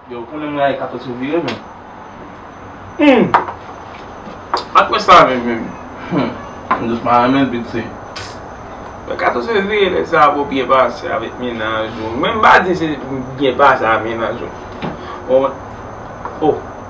Yo, ou konnen mwen a e kato sou vire men. Humm! Ak wè sa men men. Humm! Mwen jous pa renmen bit se. Mwen kato sou vire lè sa pou byen pase avèk menaj ou. Mwen mba di se byen pase avèk menaj ou. Mwen mwen. Oh!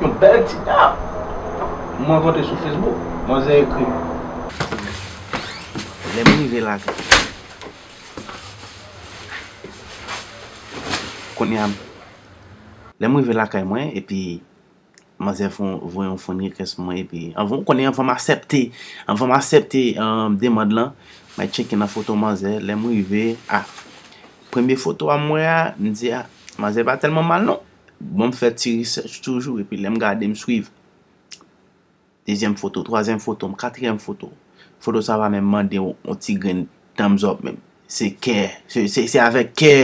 Yon bèl ti tap! M rankontre sou Facebook. Manzè ekri m. Lè m rive lakay. Kounye a m. Lè m rive lakay mwen epi manzè voye yon friend request pou mwen epi. Ou konnen anvan m asèpte, anvan m asèpte demand lan, mwen tcheke nan foto manzè. Lè m rive, ah! Premye foto a m wè a, m di ah! Manzè pa tèlman mal non. Bon m fè ti research toujou epi lè m gade m swiv dezyèm foto, twazyèm foto m, katriyèm foto w, foto sa pa menm mande w yon ti grenn thumbs up menm. Se kè, se avèk kè,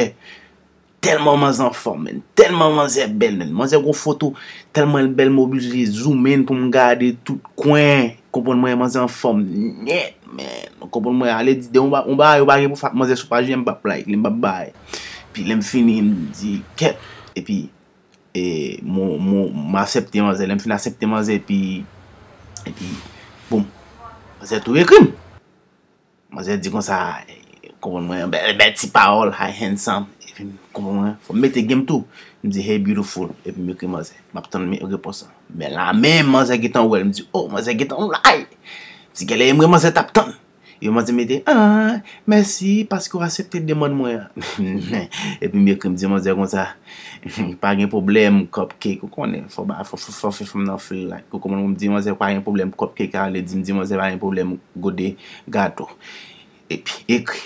tèlman manzè anfòm menn, tèlman manzè bèl menn. Manzè gon foto, tèlman l bèl m oblije zoom in pou m gade tout kwen. Konprann mwen manzè anfòm nèt menn. Konprann mwen ale di de yon bagay ou pa gen pou fè ak manzè sou paj li a m p ap like li, m p ap bay. Epi lèm fini m di kèt epi e m asèpte manzè lèm fin asèpte manzè epi epi boum manzè tou ekri m manzè di konsa konprann mwen bèl ti pawòl hi handsome epi m konprann mwen fò m mete genm tou m di hey beautiful epi m ekri manzè m ap tann repons lan men la menm manzè gentan wè l m di oh manzè gentan wè l ti genlè e m wè manzè t ap tann. Yo mande mete aah mèsi paske w asepte demann mwen an. Epi m ekri m di manzè konsa pa gen pwoblèm cupcake ou konnen fò ba fò fè fanm nan feel like ou konprann m di manzè pa gen pwoblèm cupcake a vle di m di manzè pa gen pwoblèm gode gato epi ekri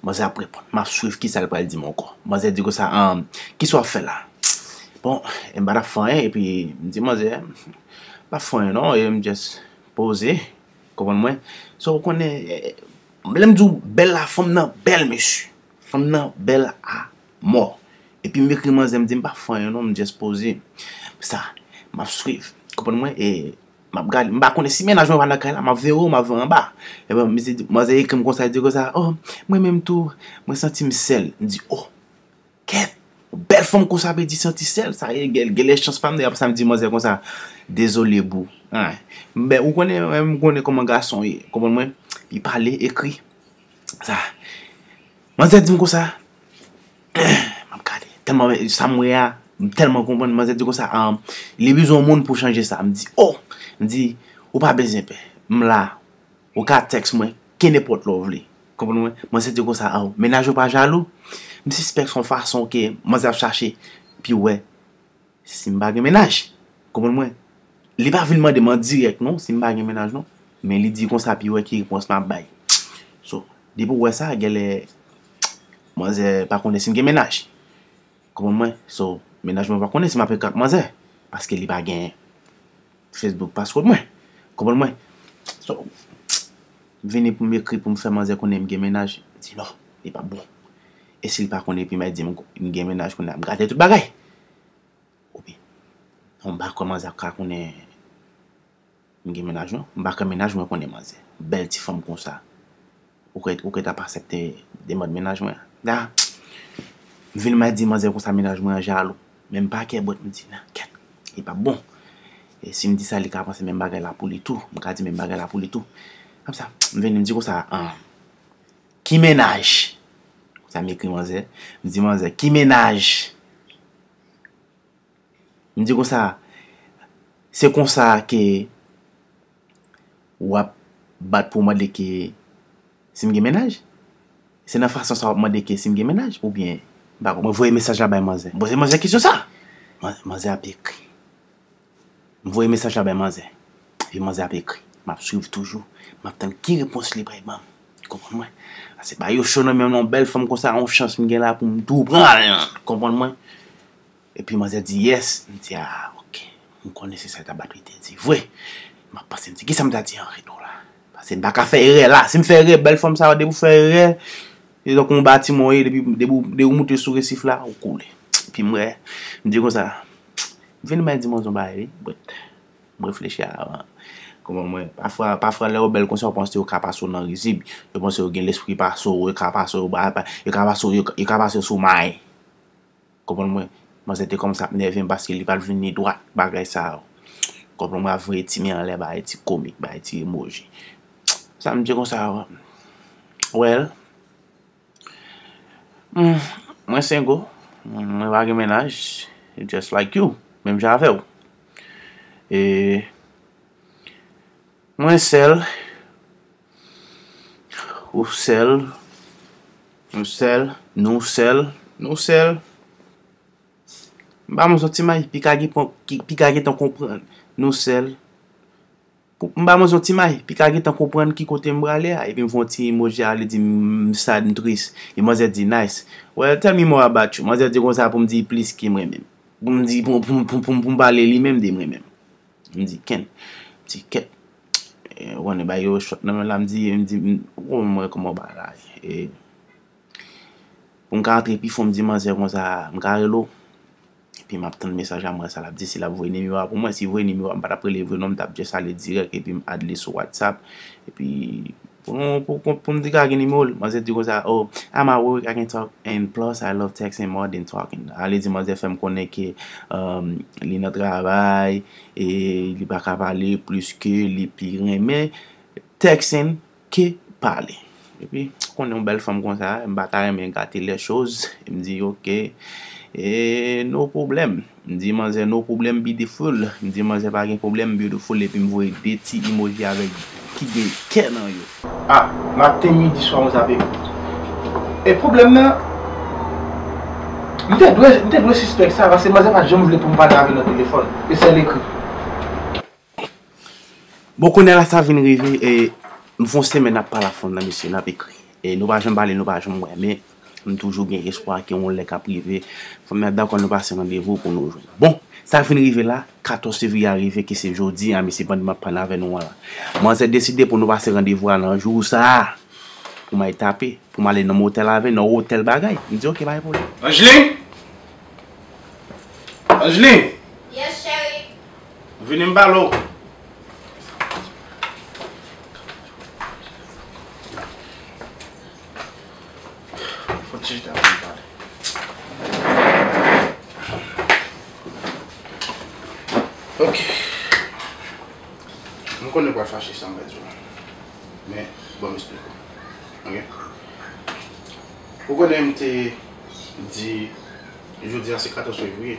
manzè ap reponn m ap swiv kisa l pral di m ankò manzè di konsa aah kisa w ap fè la bon m pa t ap fè anyen epi m di manzè m pa fè anyen non m just poze. Konprann mwen? So ou konnen lè m di w bèl la fanm nan bèl mesye. Fanm nan bèl a mò. Epi m ekri manzè m di m pa fanyen non m just poze. Sa m ap swiv. Konprann mwen? E m ap gade. M pa konnen si mennaj mwen pa nan kay la m ap veye w m ap veye w anba. Epi mesye manzè ekri m konsa li di konsa oh mwen menm tou mwen santi m sèl. M di oh. Kèt! Yon bèl fanm konsa ap redi santi sèl sa e gèl genlè chans pam dèyè sa m di manzè konsa dezole boo anh men ou konnen mwen menm m konnen kòman gason ye konprann mwen li pale ekri sa manzè di m konsa anh map gade tèlman men sa m wè a m tèlman konprann manzè di konsa anm li bezwen yon moun pou chanje sa m di oh m di ou pa bezyen pè m la Ou ka text mwen kenepot lè w vle. Konprann mwen? Manzè te konsa aww. Mennaj yo pa jalou? M sispèk son fason ke manzè ap chache pu wè si m pa gen mennaj. Konprann mwen? Li pa vin mande m an dirèk non si m pa gen mennaj non. Men li di konsa pu wè ki repons map bay. So, depi w wè sa, genlè manzè pa konnen si m gen mennaj. Kòmand mwen so mennaj mwen pa konnen si m ape k ak manzè paske li pa gen Facebook password mwen kòmand mwen so m vini pou m ekri pou m fè manzè konnen m gen mennaj li di non li pap bon e si l pa konnen epi m di m gen mennaj kounye a m gate tout bagay ou byen m pa kwè manzè ap ka konnen. M gen mennaj non. M pa kwè mennaj mwen konnen manzè bèl ti fanm konsa. Ou kwè ou kwè t ap asèpte demand mennaj mwen an? Na! M vin mal di manzè konsa mennaj mwen an jalou. Men m pa kèbwèt m di nan kèt li p ap bon. E si m di sa li ka panse menm bagay la pou li tou. M ka di menm bagay la pou li tou. Konsa m vin m di konsa an ki mennaj? Konsa m ekri manzè. M di manzè ki mennaj? M di konsa, se konsa ke w ap bat pou w mande ke si m gen mennaj? Se nan fason sa w ap mande ke si m gen mennaj oubyen? M pa konprann. Mwen voye mesaj la bay manzè. M poze manzè kesyon sa! Manzè ap ekri. M voye mesaj la bay manzè. Epi manzè ap ekri. M ap swiv toujou. M ap tann ki repons li pral ban m. Konprann mwen? A se pa yo cho nan menm nan yon bèl fanm konsa yon chans m gen la pou m tou pran l nan! Konprann mwen? Epi manzè di yes, m di ah ok, m konnen se sa Tabat li te di vre. M ap panse m di kisa m ta di an retou la. Pase m pa ka fè erè la, si m fè erè bèl fanm sa yo depi ou fè erè, se tankou yon batiman w ye depi depi ou moute sou resif la ou koule. Epi m wè, m di konsa, m vin mwen di manzè yon bagay wi but m reflechi avan. Kòman mwen, pafwa pafwa lè yo bèl konsa yo panse yo ka pase w nan rizib, yo panse yo gen lespri pase w, yo ka pase w ba yo ka pase w yo ka pase w sou may. Konprann mwen manzè te kòmanse ap nèvem paske li pat vini dwat bagay sa yo konprann mwen ap voye ti men anlè bay ti komik bay ti emoji sa mnje konsa well mwen sengo mwen pa gen mennaj just like you menm jan avèw e mwen sèl. Ou sèl, ou sèl, nou sèl, nou sèl. M ba nou zon ti may, pika gen pon, pika gen tan konprann, nou sèl. M ba nou zon ti may, pika gen tan konprann ki kote m brale a. Epi m fon ti emoji a li di m sad, m tris. E manzè di nice. Well tell me more about you. Manzè di kon sa pou m di plis ki m renmen. Pou m di, pou m, pou m, pou m, pou m pale li menm de m renmen. M di ken, m di ket. Ou konnen bay yo shot nan men la m di m di ou konn mwen kòman w bagay e pou m ka antre pi fon m di manzè konsa m ka rele w epi m ap tann mesaj a m wè sa l ap di si l ap voye nimewo a pou mwen si l voye nimewo a m pa t ap rele l vre non m t ap just ale dirèk epi m add li sou whatsapp epi Pou pou m di ka gen nimewo l. Manzè di konsa oh I'm at work I can't talk and plus I love texting more than talking a li di manzè fè m konnen ke li nan travay e li pa ka pale plis ke li pi renmen texting ke pale epi ou konnen yon bèl fanm konsa m pa ta renmen gate les choses m di ok e no pwoblèm. M di manzè no problem beautiful M di manzè pa gen problem beautiful epi m voye 2 ti emoji avèk ki gen kè nan yo. Ah maten midi swa mwen zape yo. E pwoblèm nan M te dwe m te dwe sispèk sa paske manzè pat janm vle pou m pale avè l nan telefòn e sèl ekri. Bon kounye la sa vin rive e m fon semen nap pale ak fanm nan mesye nap ekri e nou pa janm pale nou pa janm wè men m toujou gen espwa ke yon lè kap rive fanm nan ap dakò nou pase randevou pou nou jwenn bon sa vin rive la 14 fevriye a rive ke se jodi a mesye pandan map pale avè nou an la manzè deside pou nou pase randevou a nan jou sa pou m al tape pou m ale nan motèl avè nan otèl bagay m di ok pa gen pwoblèm. Angeline! Angeline! Yes cheri! Vini m pale w. Fon ti chita pou m pale. Ok. M konnen ou pral fache sa m pral di w la. Men, ban m esplike w. Ok? Ou konnen m te di jodi a se 14 fevriye?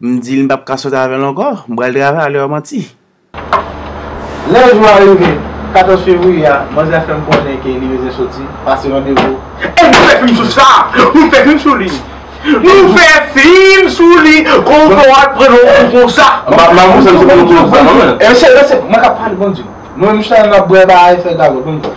M di l m pap ka sot avè l ankò, m pral travay alò yo manti. Lè jou a rive, 14 fevriye a, manzè fè m konnen ke li bezwen soti, pase randevou. E nou fè fim sou sa! Nou fè fim sou li! Nou fè fim sou li! Konpò a t pran nou kou konsa! Mwen k ap pale bondye! Mwen menm chita la m ap bwè bagay fè gagòt banm dlo.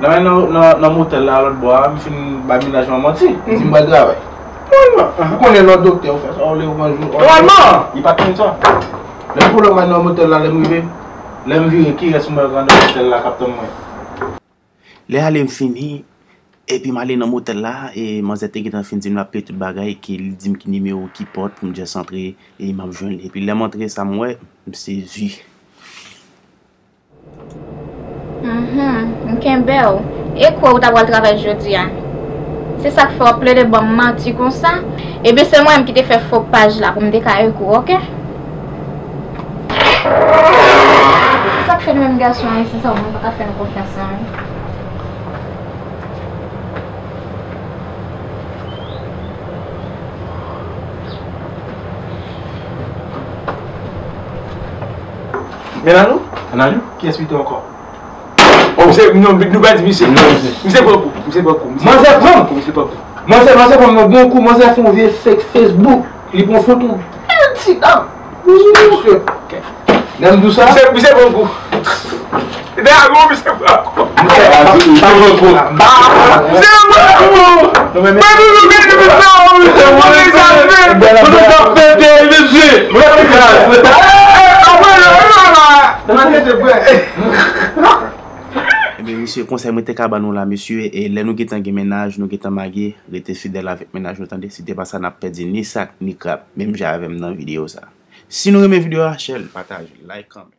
Nan men nan motèl la lòt bò a, m fin bay mennaj mwen manti. M di m pral travay. Nòmalman. Ou konnen lè w doktè, ou fè sa w vle, ou pran jou. Nòmalman! Li pa t konn sa. Lè m foulay nan motèl la, lè m rive, lè m vire, kirès m wè anndan motèl la k ap tann mwen? Lè ale m fini, epi m ale nan motèl la, e manzè te gentan fin di m l ap peye tout bagay, ke li di m ki nimewo, ki pòt pou m jès antre, e m ap jwenn li. Epi lè m antre, sa m wè, m sezi. Mph, m kenbew. E kwe ou ta pral travay jodi a? Se sak fè wap plede banm manti konsa? Ebyen se mwen menm ki te fè fo paj la pou m te ka ek ou ok. Se sak fè nou menm gason ayisyen sa moun paka fè nou konfyans nan. Melalou? Melalou? Kiyès pito ankò? Oh se non nou pa di misye. Non misye. Misye pran kou. Misye pran kou. Manzè pran kou. Misye pran kou. Manzè manzè pran yon bon kou. Manzè fè yon vye fake Facebook. Li pran foto bèl ti dam. Misye. Dam dou sa. Misye pran kou. Ebyen mesye konsèy mwen te ka ba nou la mesye e lè nou gentan gen mennaj nou gentan marye rete fidèl avèk mennaj nou tande si te pa sa nap pèdi ni sak ni krab menm jan avèm nan video sa si nou renmen video a share l pataj l like kòmante.